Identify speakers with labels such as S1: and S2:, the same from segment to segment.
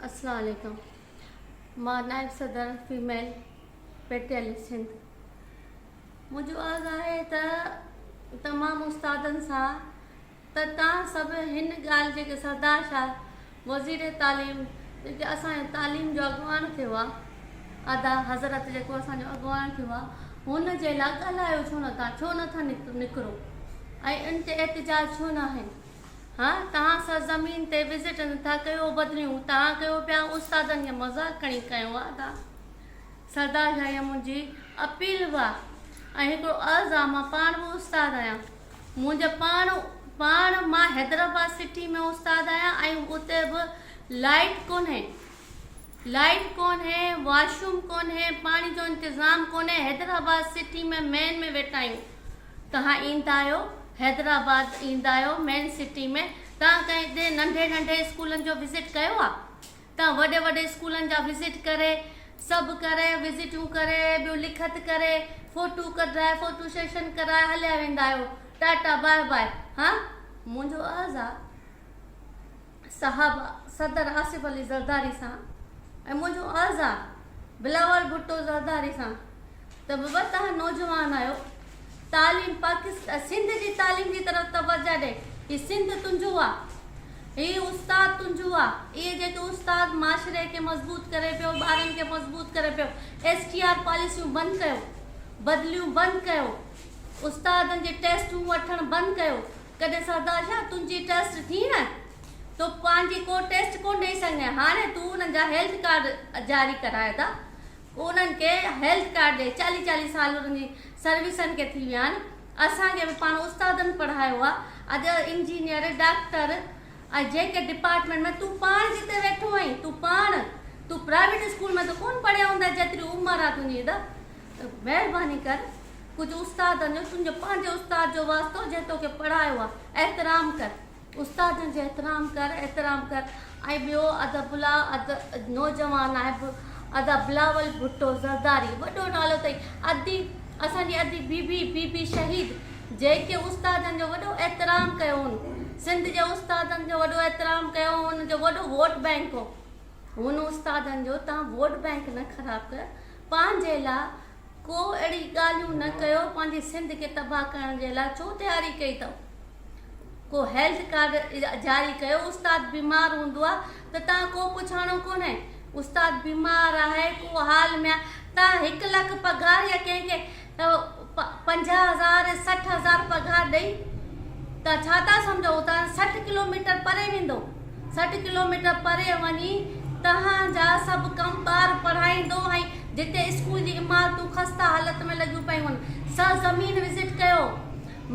S1: السلام عليڪم مان نائب صدر فيميل پيٽيلسٽ سنڌ منهنجو عرض آهي ته تمام استادن سان ته تان سڀ هن ڳالهه جيڪي سردار شاهه وزير تعليم جيڪي اسان تعليم جو اڳواڻ ٿيو آهي ادا حضرت جيڪو اسان جو اڳواڻ ٿيو آهي هن جي لاء ڳالهايو ڇو نه تان ڇو نٿا نڪرو ۽ ان تي احتجاج ڇو نه آهن ها توهان سرزمين تي وزٽ نه ٿا ڪيو بدريون توهان ڪيو پيا استادن جي مذاق کڻي ڪيو ها ادا سردار جا اها منهنجي اپيل به آ ۽ هڪڙو عرض آ مان پاڻ به استاد آهيان منهنجي پاڻ پاڻ مان حيدرآباد سٽي ۾ استاد آهيان ۽ اتي به لائيٽ ڪونهي لائيٽ ڪونهي واشوم ڪونهي پاڻي جو انتظام ڪونهي حيدرآباد سٽي ۾ مين ۾ ويٺا آهيون توهان ايندا آهيو حيدرآباد ايندا آهيو مين سٽي ۾ توهان ڪنهن هتي ننڍي ننڍي اسڪولن جو وزٽ ڪيو آ توهان وڏي وڏي اسڪولن جا وزٽ ڪري سڀ ڪري وزٽون ڪري ٻيو لکت ڪري فوٽو ڪڍرائي فوٽو سيشن ڪرائي هليا ويندا آهيو ٽاٽا باء باء ها منهنجو عرض آ. صاحب صدر آصف علي زرداري سان ۽ منهنجو عرض آ بلاول ڀٽو زرداري سان ته بابا تهان نوجوان آهيو تعليم پاڪستان سنڌ جي تعليم جي طرف توجه ڏي هي سنڌ تنهنجو آ هي استاد تنهنجو آ اهي جيڪي استاد معاشري کي مضبوط ڪري پيو ٻارن کي مضبوط ڪري پيو ايس ٽي آر پاليسيون بند ڪيو بدليون بند ڪيو استادن جي ٽيسٽون وٺڻ بند ڪيو ڪڏھن سردار شاھ تنھنجي ٽرسٽ ٿين ھا تو پنھنجي ڪو ٽيسٽ ڪون ڏئي سگھندين ھاڻي تو انھن جا ھيلٿ ڪارڊ جاري ڪرايو ٿا انھن کي ھيلٿ ڪارڊ ڏي چاليھ چاليھ سال انھن جي سروسن کي ٿي ويا آھن اسان کي به پاڻ استادن پڙھايو آ اڄ انجنيئر ڊاڪٽر ۽ جنھن ڪنھن ڊپارٽمينٽ ۾ تون پاڻ جتي ويٺو آھين تون پاڻ تون پرائيويٽ اسڪول ۾ ته ڪون پڙھيو ھوندين جيتري عمر آ تنھنجي ته مھرباني ڪر ڪجهه استادن جو تنهنجو پنهنجي استاد جو واسطو جنهن توکي پڙهايو آ احترام ڪر استادن جو احترام ڪر احترام ڪر ۽ ٻيو ادا بلا ادا نوجوان نائب ادا بلاول ڀٽو زرداري وڏو نالو اٿئي ادي اسان جي ادي بي بي بي بي شهيد جيڪي استادن جو وڏو احترام ڪيو هن سنڌ جي استادن جو وڏو احترام ڪيو هن جو وڏو ووٽ بينڪ هو هن استادن جو تان ووٽ بينڪ نه خراب ڪر پنهنجي لا ڪو اهڙي ڳالهيون نه ڪيو پنهنجي سنڌ کي تباهه ڪرڻ جي لا ڇو تياري ڪئي اٿئون ڪو هيلٿ ڪارڊ جاري ڪيو استاد بيمار هوندو آ ته تان ڪو پڇاڻو ڪونهي استاد بيمار آهي ڪو حال ۾ آ تان هڪ لک پگهار يا ڪنهن کي پنجاهه هزار سٺ هزار پگهار ڏئي تان ڇا ٿا سمجهو تان سٺ ڪلوميٽر پري ويندو. سٺ ڪلوميٽر پري وڃي توهان جا سڀ ڪم ٻار پڙهائيندو ۽ جتي اسڪول جي عمارتون خسته حالت ۾ لڳيون پيون هن سرزمين وزٽ ڪيو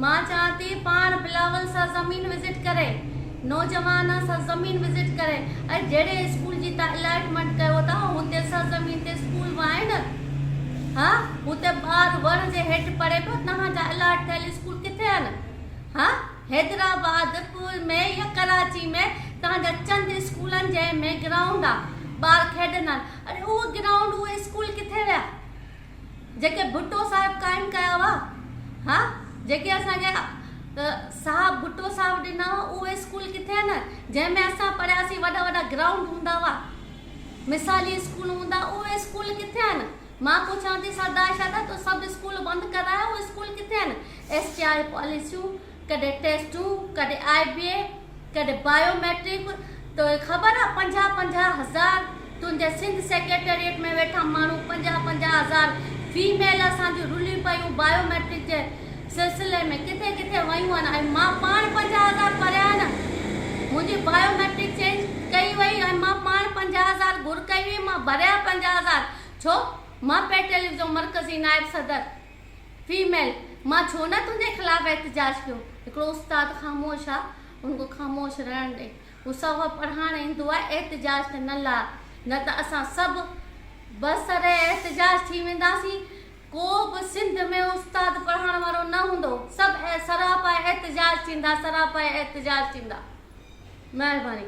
S1: مان چاهيان ٿي پاڻ بلاول سرزمين وزٽ ڪري نوجوان سرزمين وزٽ ڪري ۽ جهڙي اسڪول جي توهان الائٽمينٽ ڪيو ٿا هتي سرزمين تي اسڪول وائين ها هتي ٻار وڻ جي هيٺ پڙهي پيو توهان جا الاٽ ٿيل اسڪول ڪٿي آهن ها. حيدرآباد، پول ۾ يا ڪراچي ۾ توهان جا چند اسڪولن جنهن ۾ گرائونڊ آ، ٻار کيڏندا آهن، اڙي اهي گرائونڊ، اهي اسڪول ڪٿي ويا؟ جيڪي ڀٽو صاحب قائم ڪيا هئا، ها، جيڪي اسان کي صاحب ڀٽو صاحب ڏنا هئا، اهي اسڪول ڪٿي آهن جنهن ۾ اسان پڙهياسين، وڏا وڏا گرائونڊ هوندا هئا، مثالي اسڪول هوندا هئا، اهي اسڪول ڪٿي آهن؟ مان پڇان ٿي سردار شاهه ته سڀ اسڪول بند ڪرايا، اهي اسڪول ڪٿي آهن؟ ايس ٽي آر پاليسيون، ڪڏهن ٽيسٽون، ڪڏهن آء بي اي، ڪڏهن بايو ميٽرڪ، توکي خبر آ پنجاهه پنجاهه هزار تنهنجي سنڌ سيڪريٽريٽ ۾ ويٺا ماڻهو پنجاهه پنجاهه هزار فيميل اسان جون رليون پيون بايو ميٽرڪ جي سلسلي ۾ ڪٿي ڪٿي ويون آهن ۽ مان پاڻ پنجاهه هزار ڀريا آهن منهنجي بايو ميٽرڪ چينج ڪئي وئي ۽ مان پاڻ پنجاهه هزار گهر ڪئي وئي مان ڀريا پنجاهه هزار ڇو مان پي ٽيليويزو مرڪزي نائب صدر فيميل، مان ڇو نه تنهنجي خلاف احتجاج ڪيو. هڪڙو استاد خاموش آ، هن کي خاموش رهڻ ڏي. هو سوڀ پڙهائڻ ايندو آ، احتجاج ته نه لاء، نه ته اسان سڀ بسر احتجاج ٿي وينداسين. ڪو به سنڌ ۾ استاد پڙهائڻ وارو نه هوندو. سڀ سراپا احتجاج ٿيندا، سراپا احتجاج ٿيندا. مهرباني.